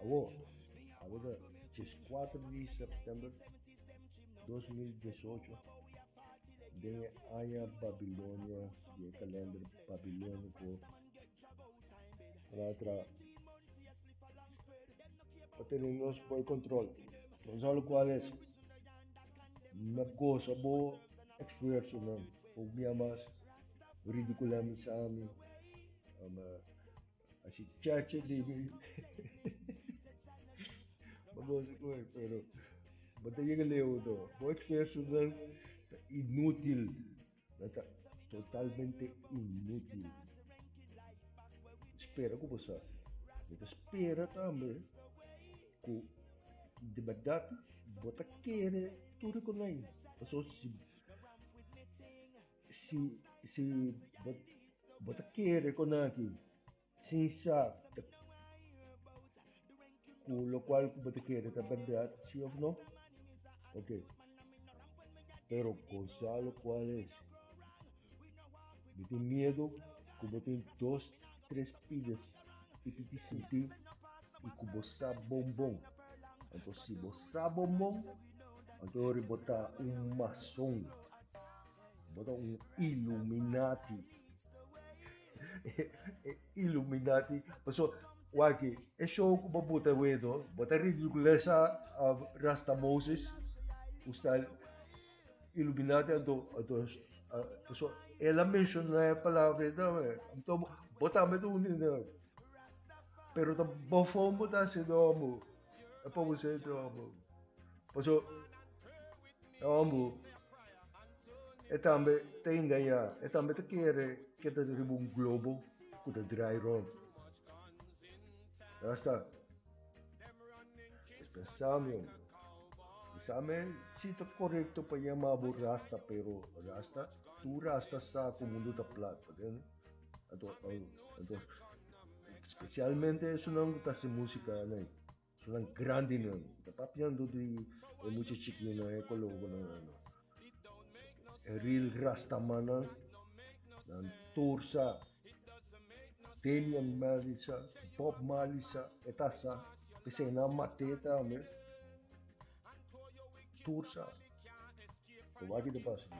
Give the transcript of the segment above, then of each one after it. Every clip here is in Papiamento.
Awor, tabata dia kuater di sèptèmber dos mil diesocho, den e aña Babilonia di e kalènder babilóniko, ku nan a tra pa tene nos bo e kontròl. Nos habla ku Alex, Mi a gosa bo esfuersonan, bo bia mas ridikulá mi, sa mi. Así chacha libre. Vamos a comer, pero. Vamos a llegar lejos, no. Vos experto dan inútil. Dat is totalmente inútil. Spera ku bosa. Mi ta spera tambe ku di bèrdat bo ta kere tur e konai. Pasobra si Si si bo bo ta kere con aki sin sa ta cu locual cu bo ta kere ta berdad si of no ok pero con sa locual es mi tin miedo cu bo tin dos tres pides y piti sinti y cu bo sa bon bon anto si bo sa bon bon anto ori bo ta un mason. Bo ta un illuminati. e illuminati. Paso, waki, e show ku bo buta wedo, bo ta ridiculesa a Rasta Moses, ku sta illuminati anto, anto, paso, el a menciona e palabra eta, anto, bo tambe ta un ina. Pero ta bo fon bo ta hasi domo, e pa bo se domo. Paso, E homber e tambe ta engañá, e tambe ta kere keda riba un globo ku ta drai rònt. Nan sta pensamion. Bisa mi si ta korekto pa yama bo rasta, pero rasta, tur rasta sa ku mundu ta plat, ta tende? Anto, anto, spesialmente esunnan ku ta hasi músika anei. Nan grandi nan, ta papiando di e mucha chikinan, e kologonan ano. E real rastamannan, nan tur sa, Damian Marley sa, Bob Marley sa, e ta sa, p'esei nan a mat'é tambe, tur sa. Kob'aki ta pasa aki?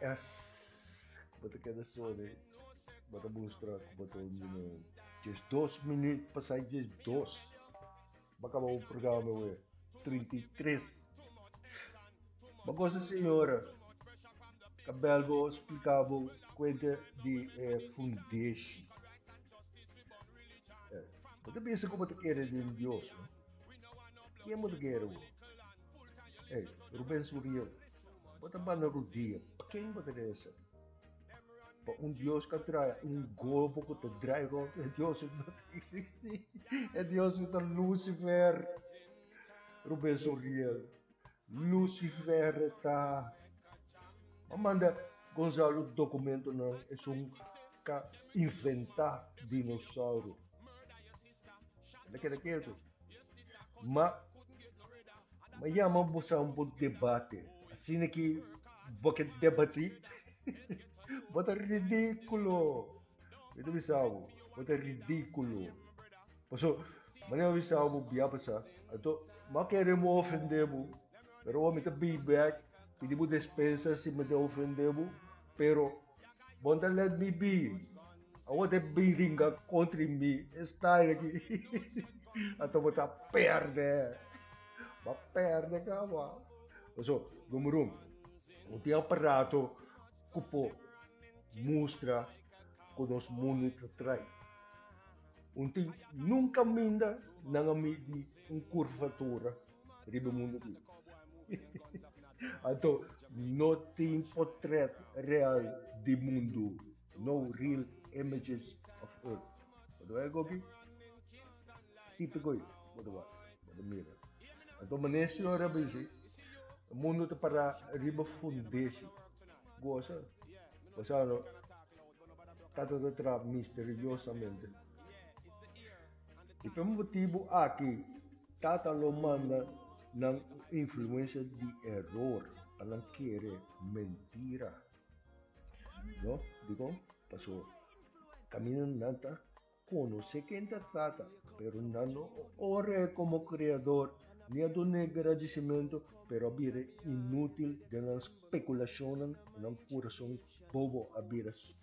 E es bo ta keda solo e bo ta mustra ku bo ta un judeu. Djes dos minüt pasá djes dos bo a kaba bo programa awe trinta i tres. Bo a gosa señora ta bèl bo spliká bo kuenta di e fundeshi. Bo ta bisa ku bo ta keda den Dios, no? Ken bo ta keda awe? Ey, Rubens Uriel, bo ta banda rodia, pa ken bo ta debe ser? Pa un Dios ka trae un golbo ku ta drai rond, e Dios no ta eksisti, e Dios ta Lusifer, Rubens Uriel, Lusifer e ta. Bo manda Gonzalo dokumentonan esun ka inventá dinosauro. Anda keda ketu. Ma, ma yama bosa un bo debate. Asina ki bo ke debati, bo ta ridikulo. Mi ta bisa bo, bo ta ridikulo. Paso, mane mi a bisa bo bia pa sa. Anto, ma kere bo ofende bo, pero awor mi ta bay bek, pidi bo despensa si mi ta ofende bo, pero. Bon ta let mi bi. Awor te bin ringa kontri mi. E style aki. Anto bo ta perde. Ba perde kaba. Paso, number un, bo tin aparato ku por mustra ku nos mundu ta trai. Un tin, nunka minda nan a midi un kurvatura. riba mundo aquí. Anto, no tin potret real di mundo, no real images of earth. Bota wak e kopi, típico ei, bota wak, bota mira. Anto, mané señor a bizi, mundo ta para riba fundeshi. Goza, pasano, tata ta tra misteriosamente. I p'e motibu aki Tata lo manda nan un influensia di eror pa nan kere mentira. No? Dikon? Paso kaminda nan ta konosé ken ta Tata, pero nan no a or'é komo Kreador, ni a dun'é gradisimentu, pero a bira inútil den nan spekulashonnan i nan kurason bobo a bira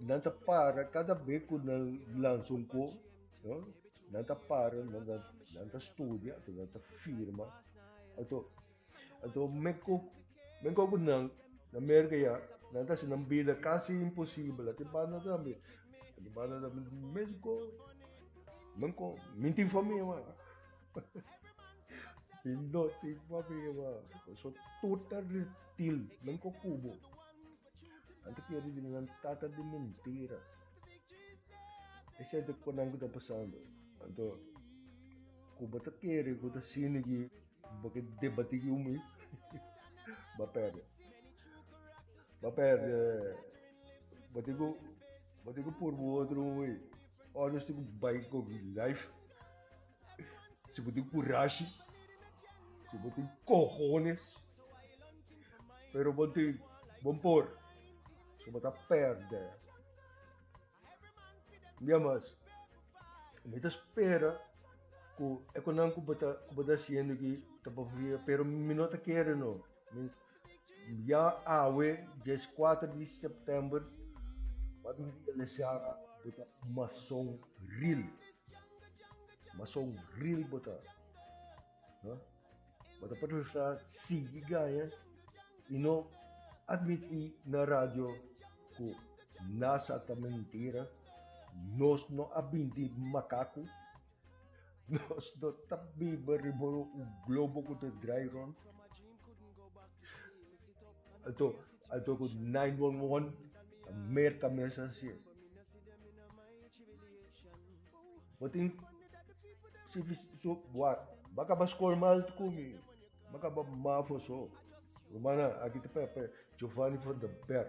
Nan ta para kada be ku nan lansa un ko, nan ta para, nan, nan, nan ta studia, ato nan ta firma. Ato, ato men ko, men ko ku nan, na Merka ya, nan ta hasi nan bida kasi imposibel. Ate banda tambe, ate banda tambe mes ko, men ko, mi tin famia wak. mi no tin famia wak. So tur ta. Til, men ko kubo. Anto ki e rivini nan tata di mintira. Esei ta kuba nan ku ta pasando. Anto ku bo ta kere ku ta sini ki bo ke debati ku mi, ba perde. Ba perde. Bo tin ku bo tin ku pur bo otro un we. Honesty ku bai ku life. Si bo tin kurashi, si bo tin kohones, pero bo tin bon por, so bo ta pèrdè. Bia mas, mi ta spera ku e kunan ku bo ta hasiendo aki ta pa fia, pero mi no ta kere no. Bia awe dies kuater di september pa mi realisá bo ta un mason ril. Mason ril bo ta. Bo ta preferá sigui gaña i no atmití na radio ku Nasa ta mentira, nos no a binti makaku Nos no ta biba riba un globo ku ta drai rònt. Anto, anto ku 911 ta merka mes hasié. Bo tin si so bo bo a kaba skol mal ku mi, bo a kaba mafo so. Rumannan, aki ta p'e Giovanni van den Berg.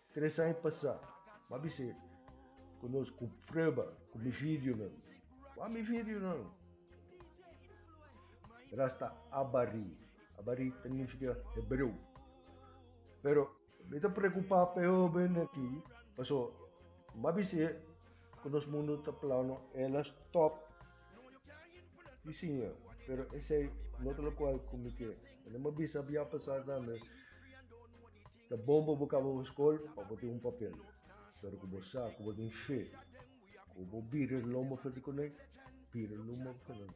Tres aña pasá, bo a bis'é ku nos ku prueba ku mi videonan. Wak mi videonan! Ras ta Abarí. Abarí ta nifiká hebreu. Pero mi ta preokupá p'e hóben akí pasobra bo a bis'é ku nos mundu ta plano el a stòp di siña. Pero esei no ta lokual ku mi ke. Bo no mi a bisa biaha pasá tambe Ta bon pa bo kaba bo skol pa bo tin un papel, pero ku bo sa ku bo tin fe, ku bo bira di lomba fuerte ku nan, bira lomba ku nan.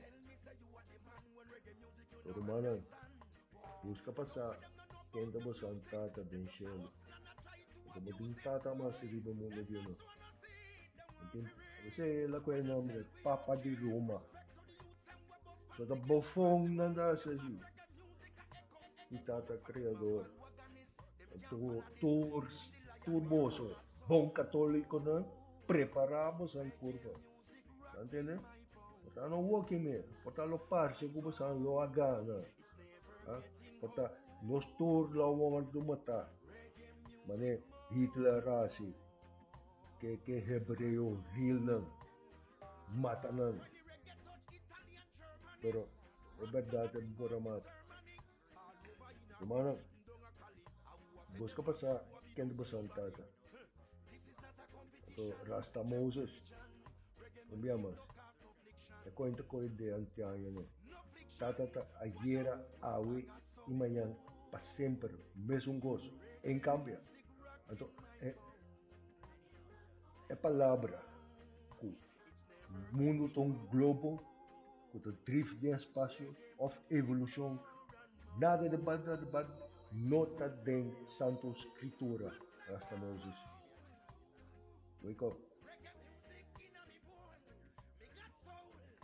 Ku rumannan, buska pa sa ken ta bo sant Tata den shelu, pasobra bo tin un Tata mas riba e mundu entero. Bo tin, asina e la ku e nombre, Papa di Ruma. So ta bofon nan ta hasi así. i Tata Kreador ta tur tur tur boso bon katolikonan prepará bosa'i por bo ta ntende por ta no woki me por ta lo parse ku bosa'i lo a gana a por ta nos tur lo a wòrdu matá manera Hitler a hasi ke ke hebreo vilnan mata nan pero. E berdad e por a mata. Rumannan, bos ka pasa kende bo santa ta. Anto Rasta Moses no bia mas. E kuenta koe de antiaño no. Tata ta ayera, awe i mañan pa semper mesun kos. Ein kambia. Anto e e palabra ku Mundu ta un globo ku ta drif den spasio òf evolushon. Nada di banda di banda no ta den Santu Skritura, Rasta Moses. Wake up!